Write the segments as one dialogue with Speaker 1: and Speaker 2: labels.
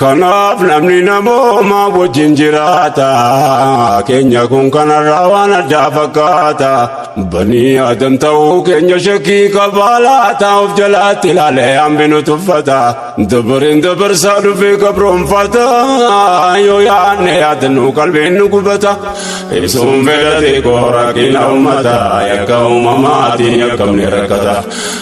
Speaker 1: Kanaaf namni namooma wajjin jiraata keenya kun kanarraa waan addaa fakkaata banii adam ta'uu keenya shakkii qabaa laata of jalaatti ilaalee hambinu tuffata dabareen dabarsaa dhufee gabroonfata yoo yaadne yaadannu qalbiin nu gubata ibsuun fedhate koo rakkina ummata yakka uumamaatiin yakkamne rakkata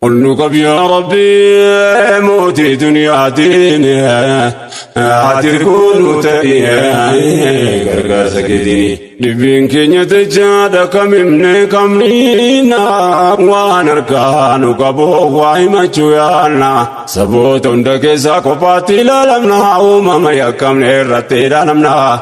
Speaker 1: ol nu qabi yaa rabbi mootii duniyaa diini ati kunu ta'i gargaarsa keetiini dhibbiin keenya dachaadha kam himne kam dhiina waan harkaa nu qabu waa himachuu yaanna saboota hunda keessaa kophaatti ilaalamna uumama yakkamne irratti ilaalamna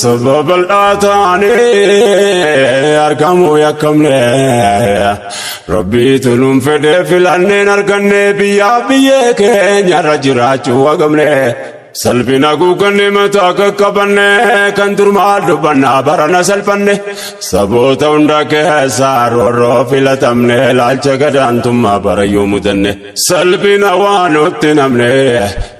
Speaker 1: Saba bal'aa taanee argamuu yakkamne Rabbiitu nuun fedhee filanneen arganne biyyaa biyyee keenyarra jiraachuu wagamne salphina guugganne mataa qaqqabanne kan durmaa dubbannaa barana salphanne saboota hunda keessaa roorroo filatamne ilaalcha gadaantummaa barayyuu mudanne salphina waan nutti namne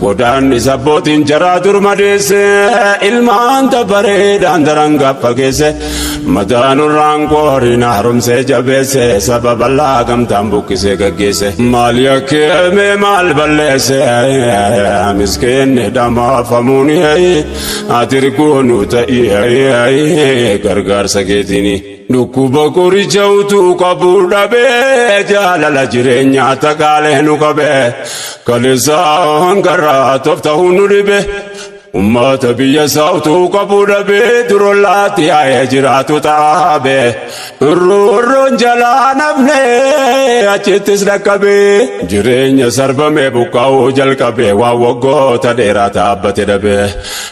Speaker 1: Godaannis abbootiin jaraa dur madeesse ilmaan dabareedhaan daran gaffageesse mataan irraan qooriin haaromsee jabeesse saba bal'aa gamtaan buqqisee gaggeesse maal yakkeeme maal balleesse miskeenni dhamaafamuun ati irgoonuu ta'ii gargaarsa keetiini. Dhukkuba qoricha utuu qabu dhabee jaalala jireenya takaalee nu qabe kaleessaa hangarraa toftahu nu dhibe ummata biyya isaa utuu qabu dhabee durollaatti yaa'ee jiraatu xaabe roorroon jalaa namne achittis dhaqqabe jireenya sarbame buqqaa'uu jalqabe waan waggoota dheeraa taabbate dhabe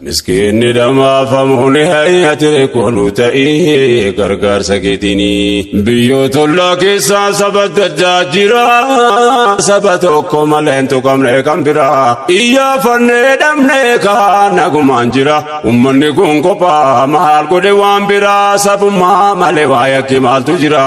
Speaker 1: Miskiinni dhamaafamu ni hayyate kolu ta'ee gargaarsa keetinii. Biyyoota ollaa keessaa saba daddaa jira. Saba tokko malee hin tuqamne kan biraa. Iyyaafannee dhabnee kaan nagumaan jira. Uummanni kun kophaa maal godhe waan biraa sabummaa malee waa yakki maaltu jira.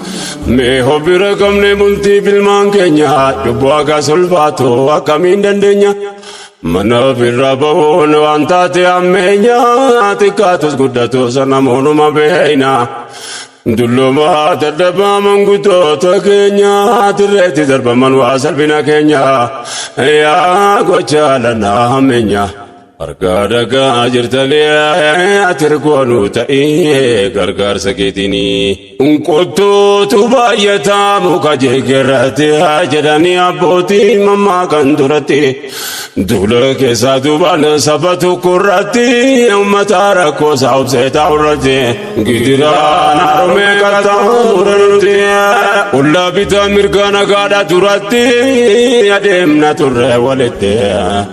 Speaker 1: Mee hobbira qabne bultii bilmaan keenya cubbuu akka sulfaatu akkamiin dandeenya mana ofirraa bahuun waan taate ammeenya xiqqaatus guddatus namoonuma beeyna dulluma dadhabaa manguddoota keenya dirreetti darbaman waa salphina keenya yaa gochaa lanaa hammeenya. Harkaa dhagaa jirtalee atirkoo nu ta'ee gargaarsa keetinii. Unqottuutu baay'ataa muka jigirratti haa jedhanii abbootii mammaa kan duratti. Duula keessaa duubaan saba tokko irratti uummata rakkoo isaa obsee taa'u irratti. Gidiraan harumee qaxxaamuu irratti. Qullaa bitaa mirgaa nagaadhaa duratti adeemna turre walitti.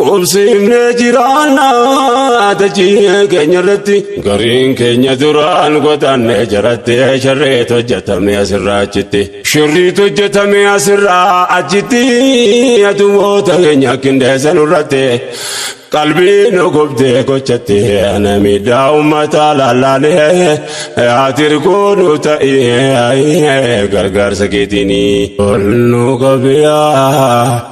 Speaker 1: Qubsiifnee jiraanna dachii keenya irratti gariin keenya duraan godaanne jaratti sharreetu hojjetame asirraa achitti shirriitu hojjetame asirraa achitti adumoota keenya qindeessan irratti qalbii nu gubdee gochatti ana miidhaa uummata lallaalee atirguu nu ta'ee gargaarsa keetiinii ol nu qabiyaa.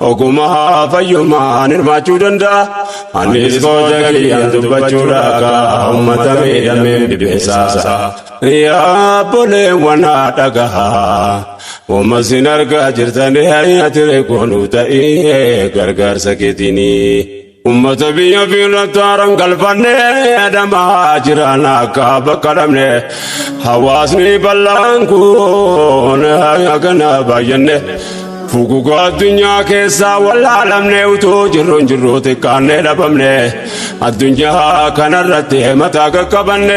Speaker 1: Ogummaa fayyummaan hirmaachuu danda'a. Anis gocha kiyyaan dubbachuu dhaagaa uummata miidhameen dhibbeessaasa. Yaa boleewwan haa dhagahaa. Uumas hin argaa jirtanii hayyatire goonuu ta'ee gargaarsa keetiinii. Ummata biyya fiirratti haaran galfanne adamaa jiran akka bakka dhabne hawaasni bal'aan kun hagana baay'anne fugugaa addunyaa keessaa wallaalamne utuu jirruun jirru xiqqaannee dhabamne addunyaa kanarratti mataa qaqqabanne.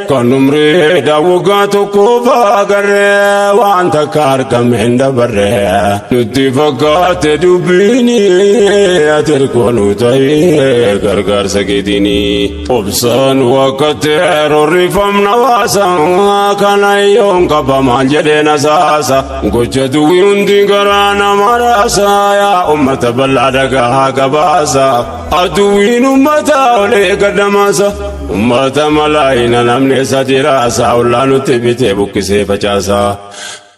Speaker 1: Kan umrii daawwagaa tokkoof agarree waan takka argame hin dabarree nutti fakkaate dubbiin ati ergoonu ta'ee gargaarsa keetiin obsaan wakkatti roorrifamna waasa kana yoon qaba maal jedhee na saasa gocha duwwi hundi garaa nama raasa yaa ummata bal'aa dhagaa gabaasa. Aduwwiin ummata olee gadamaasa ummata malaayina namni isa diraasa ollaa nutti bitee buqqisee facaasa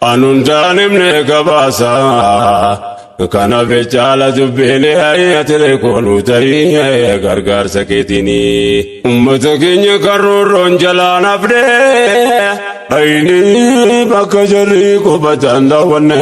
Speaker 1: anuun daanimne gabaasa kana bechaala dubbiilee hayyatire koonuu ta'ee gargaarsa keetiini ummata keenya kan roorroon jalaan hafnee ayinii bakka jarri qubatan daawwanne.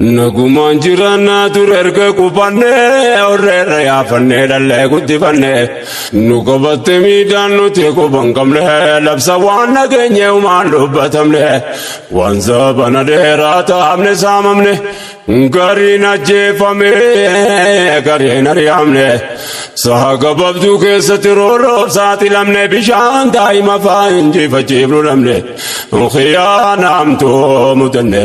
Speaker 1: Nagumaan jiraannaa ture erga qubannee horreerra yaafannee dhallee guddifannee nu qabatte miidhaan nuti quban qabne labsa waan nageenye umaan dubbatamne waan sabana dheeraa taa'amne saamamne gariin ajjeefame gariin ari'amne saha gabaabduu keessatti roorroof saaxilamne bishaan daa'ima fa'aa injifachiifnu dhabne khiyaanaamtuu mudanne.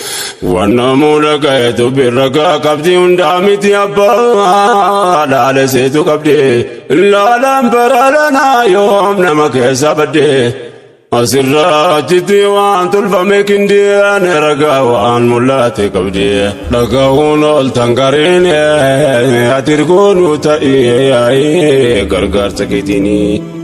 Speaker 1: Waan namuu dhagayetu birragaa qabdi hundaa miti abbaa laale seetu qabdi laalaan baraalanaa yoom nama keessa badde asirraa achitti waan tolfame kindiyaan ragaa waan mul'ate qabdi dhagahuun ooltan gariin atirgoonuu ta'ee gargaarsa keetiinii.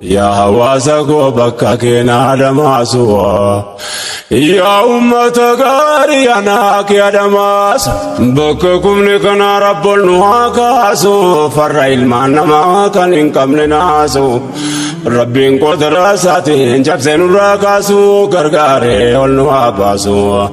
Speaker 1: Yaa hawaasa koo bakka keenaa damaasuwa. Yaa uummata gaarii anaa kee adamaasa. Bakka kumni kanaa rabboon nu haa kaasu. Farra ilmaan namaa kan hin qabne naasu. Rabbiin qotiraa isaatiin cabsee nurraa kaasu. Gargaaree ol nu haa baasu.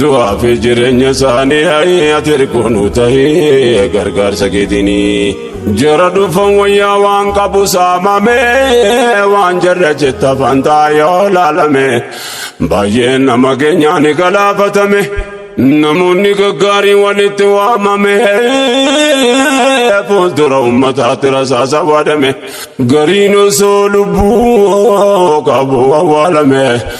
Speaker 1: du'aa fi jireenya isaanii hayii ati hirkoonu tahee gargaarsa keetinii jara dhufan wayyaa waan qabu saamame waan jarra jetta fantaa yoo laalame baay'een nama keenyaan galaafatame namoonni gaggaarii walitti waamame fuuldura ummataatti rasaasa waadame gariin osoo lubbuu qabu awwaalame.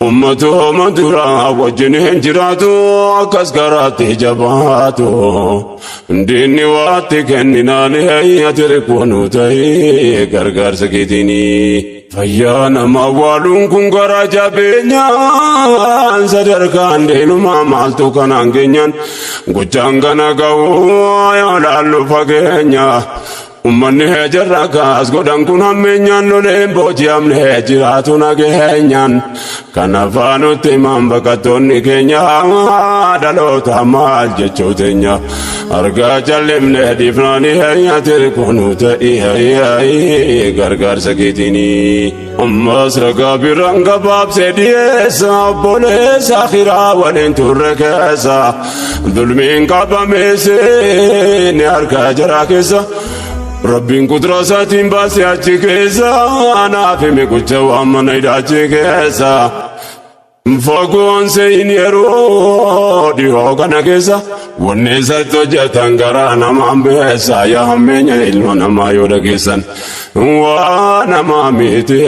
Speaker 1: Ummatooma duraa wajjin hin jiraatu akkas garaatti jabaatu. Diinni waatti kenninaan heeyyati rikkoonu ta'ee gargaarsa keetiini. Fayyaa nama waaluun kun garaa jabeenyaan sadarkaan diinumaa maaltu kanaan geenyaan gochaan kana ga'uu yoo laallu fageenya. Ummanni hee jarra akkas godhan kun hammeenyaan loleen booji'amne hee jiraatu nageenyaan. Kanaaf nutti himan baqattoonni keenya dhaloota maal jechuu teenya. Argaa callimne dhiifnaani hee yaatiri kunu ta'ii hee gargaarsa keetiinii. Ammas ragaa biraan gabaabsee dhiyeessa obboleessa akhiraa waliin turre keessa dulmiin qabameesse ni harkaa jaraa keessa rabbiin kudura isaatiin baasee achi keessa anaaf hime gocha waan mana hidhaachi keessa. Fagoon seeyini yeroo dhihoo kana keessa wanni isatti hojjetan garaa namaan beessa yaa hammeenya ilma namaa yoo dhageessan waa namaa miti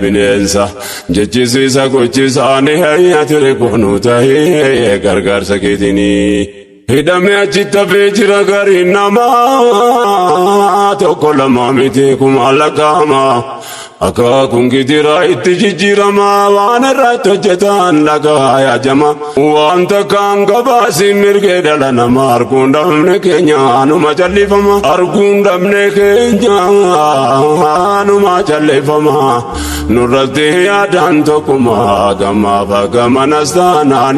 Speaker 1: bineensa jechisiisa gochisaanii hayyatiri kunuu ta'ee gargaarsa keetinii. Hidhamee achi tafee jira gariin namaa tokko lama miti kuma lakkaa'ama. Akaakuun gidiraa itti jijjiirama waan irratti hojjetan dhagaa yaajama. Waan takkaan gabaasiin mirgee dhala nama arguun dhabne keenya numa callifama. Arguun dhabne keenya numa callifama. Nurratti yaadaan tokkuma gamaaf gamanas taanaan.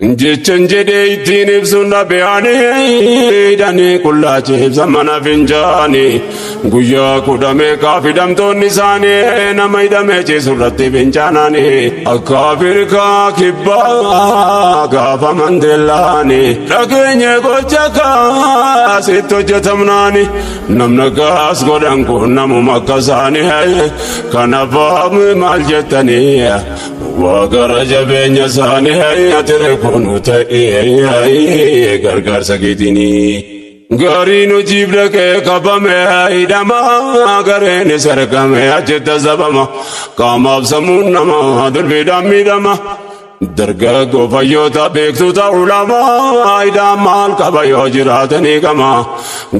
Speaker 1: Jechan jedhee ittiin ibsuun dhabeeyani hidhanii qullaa ciibsa mana fincaani guyyaa kudha meeqaa fidamtoonni isaanii nama hidhamee ciisu irratti fincaanani akka Afrikaa kibbaa gaafa mandeellaani dhageenye gocha kaasitti hojjetamnaani namna gaas godhan kun namuma akka isaanii kanaaf maal jettanii Waaqara jabeenya isaanii hayyate reeffoonu ta'ee gargaarsa keetini. Gaarii nu jiibla kee qabame hidhama gareen isa rakame achitti sabama qaamaaf sammuun nama durbiidhaan miidhama. Dargaggoo fayyoota beektoota ulamaa hidhaan maal qaba yoo jiraatanii qama.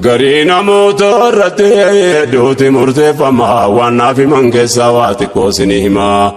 Speaker 1: Garii namoota irratti hedduuti murteeffama waan naaf himan keessaa waa xiqqoo isinii hima.